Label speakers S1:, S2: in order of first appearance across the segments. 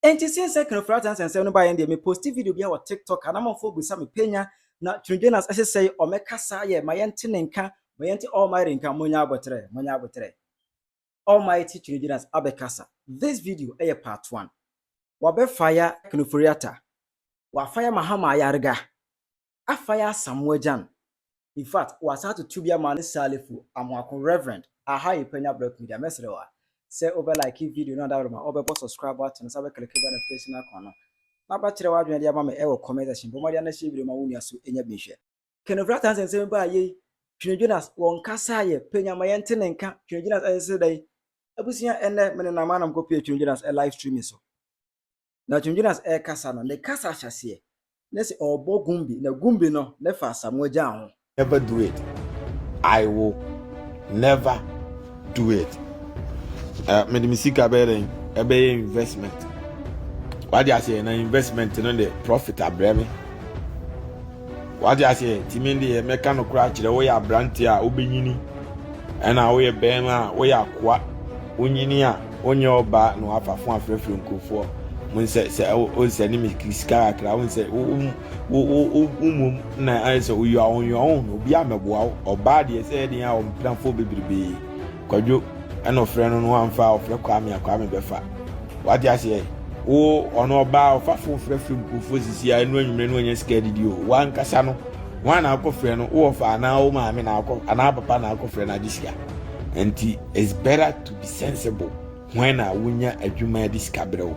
S1: Enti since sɛ Kanu Fratan's nsɛm no baeɛ no deɛ me posti video biara wɔ TikTok a na amanfoɔ bisa me panya na Tony Jonas ɛsesɛe ɔmɛka saa yɛ ma yɛnte ne nka ma yɛnte Almighty nka monyɛ aboterɛ monyɛ aboterɛ Almighty Tony Jonas abɛkasa this video ɛyɛ part one wabɛfaya Kanu Foriata wafaya Mahama Ayarga Afai Asamoah-Gyan, in fact, wɔasan atoto bi ama ne Salifu Amoako Rev. Aha yɛ Panya Brɛko Media, mɛsrɛ wo a, sɛ wobɛ like video no a daworo ma wobɛbɔ subscribe button no, san bɛ click bell notification icon no, na bɛkyerɛ w'adwene de ama me ɛwɔ comment section, bɔ mmɔden na share video no ma wo nua so nya bi nhwɛ. Kenofra Tansi nsɛm baa yei, Twene Jonas wɔn kasa yɛ pɛ nya ma yɛn te ne nka, Twene Jonas ɛyɛ sɛ dɛn? Abusua ɛnnɛ me nenam a na mekɔ pie Twene Jonas live streaming so. na Twin Jonas rekasa no, ne kasa ahyɛaseɛ, na sɛ ɔrebɔ Gumbi, na Gumbi no, ne fa Asamoah Gyan ho. Never do it.
S2: I will never do it. Uh, mede me sika bɛyɛ dɛn ɛbɛyɛ investment wade aseɛ na investment no de profit abrɛ me wade aseɛ timi deɛ mɛka no koraa kyerɛ woyɛ aberante a wobɛnyini ɛna woyɛ bɛrima a woyɛ akoa wonyini a wonyɛ wo ba na wafa fo afrɛfrɛ nkurɔfoɔ wɔn sɛ sɛ wɔn sɛ ne mi sika kakra wɔn sɛ wɔn wɔn wɔn mu na ayɛ sɛ oyɔ wɔn yɔ wɔn na obi amɛboa wo ɔbaa deɛ sɛ ɛdeɛ a wɔn mpirafoɔ bebrebe kwadwo ɛna ɔfrɛ no no anfa ɔfrɛ kwame a kwame bɛfa wate aseɛ wo ɔno ɔbaa ɔfa fo frɛfrɛ nkurɔfoɔ sisi a ɛnu anwummerɛ no wɔnyɛ sika didi o wankasa no wɔn a na akɔ frɛ no wɔfa anaa wɔn maame na akɔ anaa papa na akɔ frɛ no agye sika nti it's better to Be sensible. Hwan na wonya adwuma de sika brɛ wo?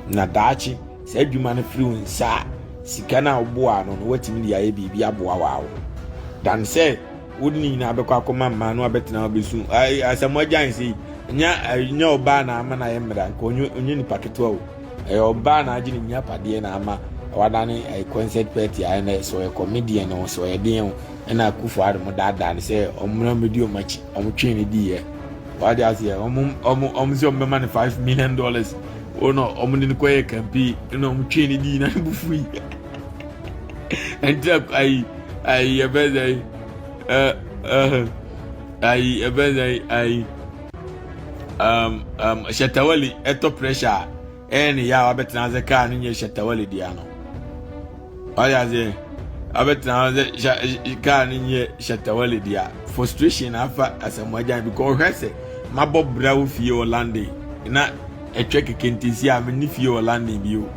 S2: Na daakye saa adwuma no firi wo nsa a, sika no a woboa no no woatumi de ayɛ biribi aboa wɔ wo. Dan sɛ wode ne nyinaa bɛkɔ akɔma mmaa no abɛtena abɛsu asɛm agyan sei nya nya ɔbaa na ama no ayɛ mmara nka ɔnyɛ nipa ketewa o ɛyɛ ɔbaa na agye ne nya padeɛ na ama wadane ɛyɛ concert party a ɛna sɛ ɔyɛ comedian o sɛ ɔyɛ deɛn o ɛna akufo adom daadaa no sɛ ɔmmra mmɛdi ɔmakyi Ɔmo twee no diiɛ. Wate aseɛ? Ɔmo ɔmo ɔmo sɛ ɔmo bɛma no five million dollars. Ɔno ɔmo de no kɔyɛ kampi ɛna ɔmo twee no dii na ne bo fui. Ɛnti ayi ayi ɛbɛn sɛ yi ɛ ɛhɛ ayi ɛbɛn sɛ yi ayi um, um, Shatawali ɛtɔ pressure Ɛyɛ ne yɛ a wabɛtena ase kaa no nyɛ Shatta Wale dea no. Ɔyɛ ase abɛtena ase kaa no nyɛ Shatta Wale dea. Frustration na afa asɛmmoagyan bi kɔ ɔhwɛ sɛ mabɔ bra wo fie wɔ London na ɛtwa keke nti si a me ne fie wɔ London bio.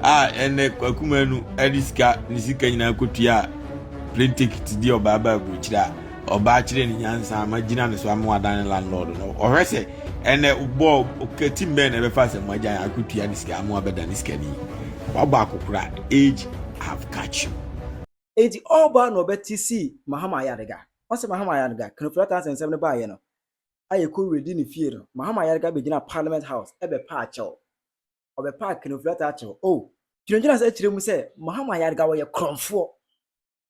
S2: A ɛnɛ kwakumanu ɛde sika ne sika nyinaa kɔtua plane ticket di ɔbaa baa aburokyire a. Ɔbaa kyerɛ ne nyansa ama gyina ne so ama wadan ne landlord no. Ɔhwɛ sɛ ɛnɛ bɔɔ ɔkati mbɛn na ɛbɛfa sɛ mo agya yɛ akotua ne sika ama wabɛda ne sika ni. Wabɔ akokora. Age have catch you. Enti
S1: ɔbaa na ɔbɛte sii Mahama Ayariga. Ɔse Mahama Ayariga, Kanofira Tansi nsɛm no baeɛ no, a yɛkɔ Redi ne fie no, Mahama Ayariga bɛgyinaa Parliament House bɛpaa kyɛw. Ɔbɛpaa Kanofira taa kyɛw. Oh! Gyinagyina saa kyerɛ mu sɛ Mahama Ayariga ɔyɛ korɔmfoɔ.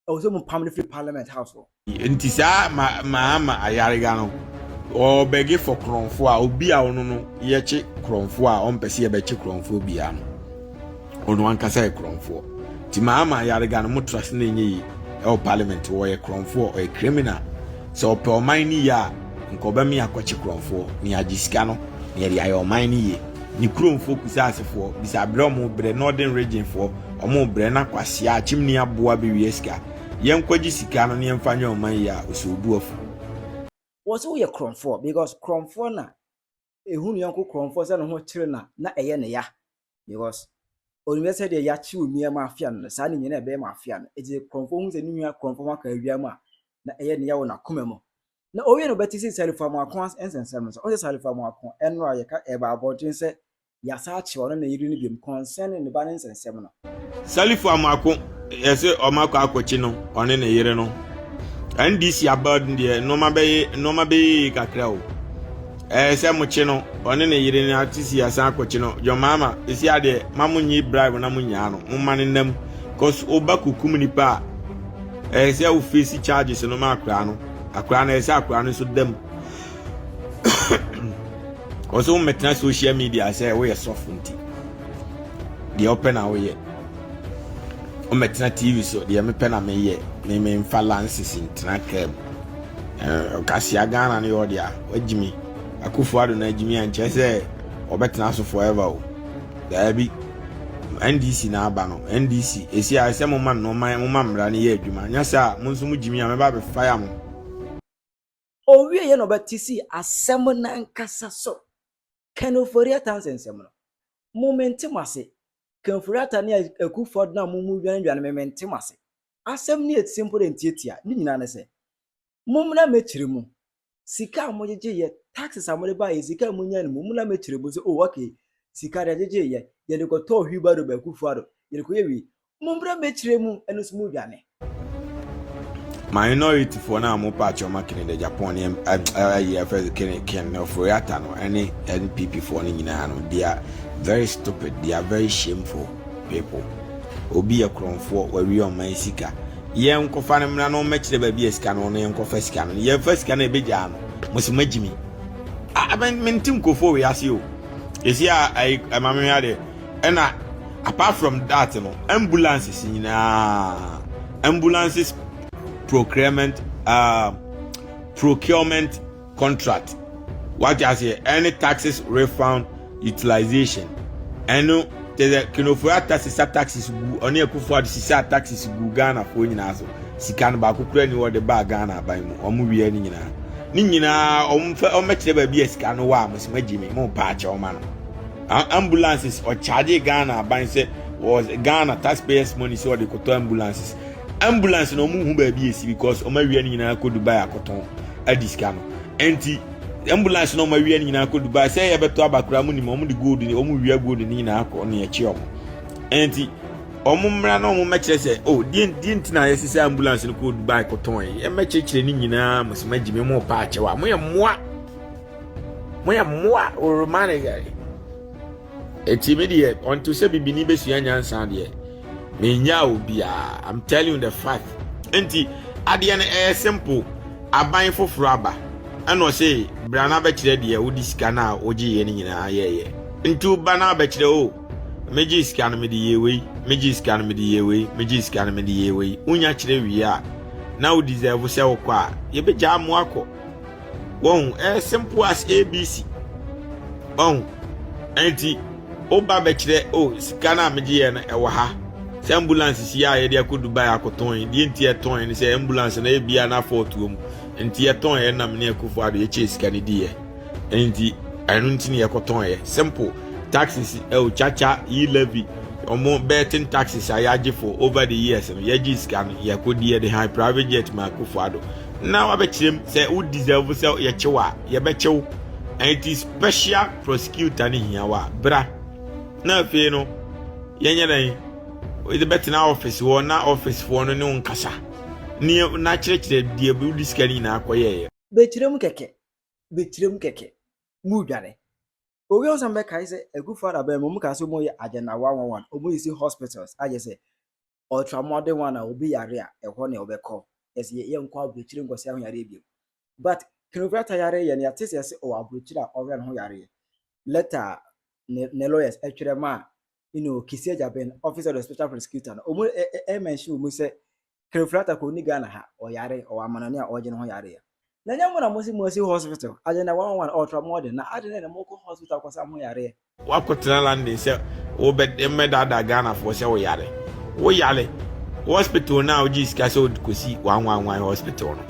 S1: ɛwɔ sɛ mo pam no firi parliament house hɔ. nti saa
S2: ma maa ma ayarega no ɔbɛge fɔ korɔnfo a obi a ɔno no yɛkye korɔnfo a ɔmpɛ sɛ yɛbɛkye korɔnfoɔ biara no ɔno ankasa yɛ korɔnfoɔ nti maa ma ayarega no motra se na ɛnyɛ yi ɛwɔ parliament wɔyɛ korɔnfoɔ ɔyɛ criminal sɛ ɔpɛ ɔman no yie a nka ɔbɛme akɔkye korɔnfoɔ ne agye sika no ne yɛde ayɛ ɔman no yie ne kuromfoɔ kusaasefoɔ bisa berɛ ɔmo brɛ northern region foɔ ɔmo brɛ na kwasia akyimni aboa bɛwia sika yɛnkɔgye sika no ne yɛmfa nyɛ ɔman yi a ɔsoobuafu. Wɔ sɛ
S1: woyɛ korɔmfoɔ because korɔmfoɔ na ɛhu ne yɔnko korɔmfoɔ sɛ ne ho kyere no a na ɛyɛ ne ya because ɔnim sɛ deɛ yɛakye wo nua ma afea no no saa ne nyina ɛbɛyɛ ma afea no ɛti sɛ korɔmfoɔ hu sɛ ne nua korɔmfoɔ ho aka awia mu a na ɛyɛ ne ya wɔ n'akoma mu na ɔwie no bɛte sɛ Salifamuako nsɛnsɛm no sɛ ɔsɛ Salifamuako ɛnora a yɛka ɛba abɔnten sɛ yɛasan akyɛ ɔno ne yere no biom kɔnsɛn ne ne ba no nsɛnsɛm no. Salifamuako
S2: ɛsɛ ɔmakɔ akɔkye no ɔne ne yere no NDC aba deɛ nnoɔma bɛyɛ nnoɔma bɛyɛ yie kakra o ɛɛ sɛ mo kye no ɔne ne yere no ate si asan akɔkye no John Mahama ɛsi adeɛ ma mo nyi bribe na mo nyaa no mo ma no nam cause ɔba kukum nipa a Ɛyɛ sɛ wo face charges no ma akwadaa no. Akwadaa no ɛyɛ sɛ akwadaa no nso da mu. Wɔsɛ wo mmɛtena social media sɛ woyɛ sɔfo nti. Deɛ wopɛ na woyɛ. Wommɛtena TV so deɛ mepɛ na meyɛ. Me memfa lances ntena kaa mu. Kasia Ghana no yɛ ɔde a wagyimi. Akufo ado na agyimi ankyɛ sɛ ɔbɛtena so forever o. Daabi. NDC na aba no. NDC. Esi a ɛsɛ mo ma nneɛma mo ma mmara no yɛ adwuma. Nyɛ sɛ a mo nso mo gyimi a mɛba abɛ fire mo.
S1: Owie yɛ na ɔbɛte si asɛm nankasa so. Ken Ofori-Atta nsɛnsɛm no, mo mente mo ase. Ken Ofori-Atta ne Akufo-Addo no a mo mo dwane dwane me mente mo ase. Asɛm no yɛ tse mpo dɛ ntiatia. Ne nyinaa ne sɛ, mommra mɛkyere mo. sika a mogyegye yɛ taxes a mode baeɛ sika a monya no mu mo na mɛkyerɛ mu sɛ oh okay sika deɛ gyegye yɛ yɛde kɔtɔɔ hwibaro baakufo ado yɛde kɔyɛ wei mo mmerɛ mɛkyerɛ mu ɛno nso mo dwane minority
S2: foɔ no a mo pa akyɛ ɔma kene de japan ne ayi afɛ kene ken ne ɔforoyata no ɛne npp foɔ no nyinaa no they are very stupid they are very shameful people. Obi yɛ korɔnfoɔ wawie ɔma yɛ sika yɛ nkɔfa no mmra na ɔmmɛkyerɛ baabi a sika no ɔno yɛ nkɔfa sika no yɛ fa sika no ɛbɛgyaa no mo se magyimi mente nkurɔfoɔ wei ase o ɛsi a ɛma me hwɛ adeɛ ɛna apart from that no ambulances nyinaa ambulances procurement uh, procurement contract wate aseɛ ɛne taxes refund utilization ɛno te sɛ kenofo ata sisa taxes gu ɔne akufo ade sisa taxes gu ghanafoɔ nyinaa so sika no baako kura ni wɔde baa ghana aban mu wɔn wia ne nyinaa ne nyinaa wɔn fɛ wɔn bɛkyerɛ baabi a sika no wɔ a mo sɛ mo agyi mi mo paa kyɛ wɔn ano ambulances ɔkyaagye ghana aban sɛ was ghana taxpayers money sɛ wɔde kɔtɔ ambulances Ambulance na ɔmo hu baabi esi because ɔmo awia no nyinaa kɔ Dubai akɔtɔn adi sika no. Ɛnti ambulance na ɔmo awia no nyinaa kɔ Dubai sɛ ɛyɛ bɛtɔ aba koraa mo nim ɔmo de gold ni ɔmo wia gold no nyinaa kɔ ne ɛkyi ɔmo. Ɛnti ɔmo mmra na ɔmo mɛkyerɛ sɛ o oh, deɛ deɛ nti na yɛsi sɛ ambulance no kɔ Dubai kɔtɔn yi ɛmɛkyerɛkyerɛ ne nyinaa mo sɛ magyi me mo pa akyɛw a mo yɛ mmoa mo yɛ mmoa ɔrema ne yɛ. Ɛti mi deɛ ɔnto sɛ bibini bɛsua nyansa deɛ. menyaa obiara i'm telling you the fact nti adeɛ no ɛyɛ simple aban foforɔ aba ɛna ɔse bra no abɛkyerɛ deɛ wode sika no a wogyeeɛ no nyinaa yɛyɛ nti woba no abɛkyerɛ o oh, megye sika no mede yɛ wei megye sika no mede yɛ wei megye sika no mede yɛ wei wonya kyerɛ wie a na wo deserve sɛ wokɔ a yɛbɛgyaa mo akɔ wɔn ɛyɛ simple as abc wɔn ɛnti woba bɛkyerɛ o oh, sika no a megye yɛ no ɛwɔ ha sɛ ambulance si a yɛde akɔ dubai akɔtɔn deɛ nti ɛtɔn no sɛ ambulance no ebia na afɔɔtoɔ mu nti ɛtɔn yɛ nam ne akufo ado yɛkyɛ sika no di yɛ ɛnti ɛno nti ne yɛkɔtɔn yɛ simple taxes ɛwɔ kyakya yi levy wɔn bɛɛten taxes a yɛagye for over the years no yɛgye sika no yɛkɔdi yɛde han private jet ma akufo ado na wabɛkyerɛ mu sɛ wo deserve sɛ yɛkye wo a yɛbɛkye wo ɛnti special prosecutor no hia wo a bra na afei no yɛnyɛ dɛn wɔde bɛtena office wɔ na office foɔ no ne wo nkasa ne n'akyerɛkyerɛ deɛ wode sika no nyinaa kɔyɛeɛ bɛkyerɛ mu kɛkɛ
S1: bɛkyerɛ mu kɛkɛ mu dwane owi ɔsan bɛkae sɛ akufo adabɛn mu ɔmo kaa sɛ ɔmo yɛ agenda one one one ɔmo yɛ si hospitals ayɛ sɛ ɔtra mmɔden ho anaa obi yare a ɛhɔ na ɔbɛkɔ ɛsɛ yɛ yɛnkɔ abrokyire nkɔ sɛ ho yareɛ bio but knuvrata yare yɛ no yɛate sɛ yɛse ɔwɔ abrokyire a ɔhwɛ ne ho yareɛ lɛta a ne ne lawyers ɛtwerɛ ma a you know kisi agya ben office of the special prosecutor no ɔmu ɛmɛnhye wɔ mu sɛ knuvrata kɔ ɔni Ghana ha ɔyare ɔwɔ amanɔne a ɔgye ne ho yareɛ Na ɛnyɛ mo na mo se mo asi hospital as in the one one ultra modern na adɛn na mo kɔ hospital kɔ sa ho yareɛ. Wako tena London
S2: sɛ wo bɛ mmɛ daadaa Ghana foɔ sɛ wo yare wo yare hospital no a wo gye sika sɛ wo kɔ si one one one hospital no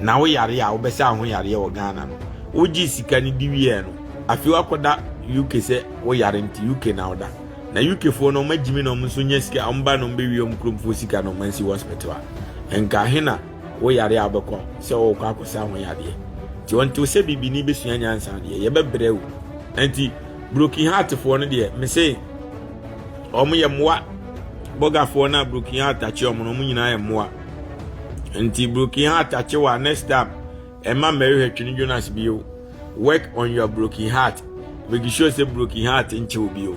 S2: na wo yare a wo bɛ sa ho yareɛ wɔ Ghana no wo gye sika no di wieɛ no afei wako da UK sɛ wo yare nti UK na wo da na UK foɔ no ɔma gyimi na ɔmo nso nya sika ɔmo ba na ɔmo bɛ wie ɔmo kurom foɔ sika na ɔmo ansi hospital a nka hena Wo yare a wobɛkɔ sɛ worekɔ akɔsa ho yadeɛ nti ɔntew sɛ bibini bɛsua nyansa deɛ yɛbɛbrɛ o nti broken heart foɔ no deɛ mese wɔn yɛ mmoa bɔgafoɔ no a broken heart akye wɔn no wɔn nyinaa yɛ mmoa nti broken heart akye wɔ a next time ɛma mmɛhwehwɛ twene jonas bio work on your broken heart make sure sɛ broken heart nkyew bio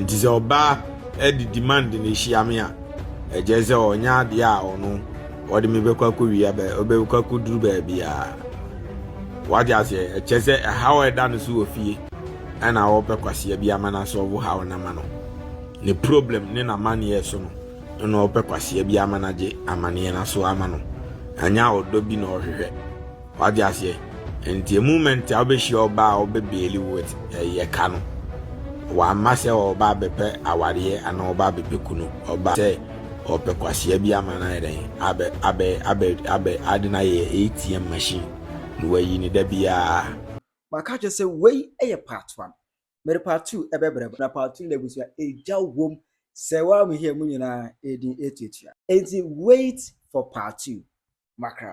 S2: nti sɛ ɔbaa ɛde demand na ehyia me a ɛkyɛ sɛ ɔnyɛ adeɛ a ɔno ɔde me bɛkɔ akɔ wia bɛ ɔbɛkɔ akɔ duru baabi a wagye aseɛ ɛkyɛ sɛ ɛhaw a ɛda no so wɔ fie ɛna ɔpɛ kwaseɛ bi ama no asɔɔbo haw no ama no ne problem ne n'amanneɛ so no ɛna ɔpɛ kwaseɛ bi ama no agye amanneɛ no so ama no ɛnyɛ a ɔdɔ bi na ɔhwehwɛ Wate aseɛ? Nti moment a wobɛhyia ɔbaa a ɔbɛ beeli wo with ɛyɛ ka no, wamma sɛ ɔba abɛpɛ awareɛ anaa ɔba abɛpɛ kunu, ɔba sɛ ɔpɛ kwasea bi ama no ayɛ dɛn, abɛ, abɛ, abɛ, abɛ, ade no ayɛ ATM machine na wayi no da biara. Maka akyerɛ sɛ
S1: wei yɛ part one. Mede part two bɛbrɛ mo. Na part two no abusua, egya wom. Sɛ woammhia mu nyinaa a, ɛyɛ din atuatua. Enti wait for part two. Makra.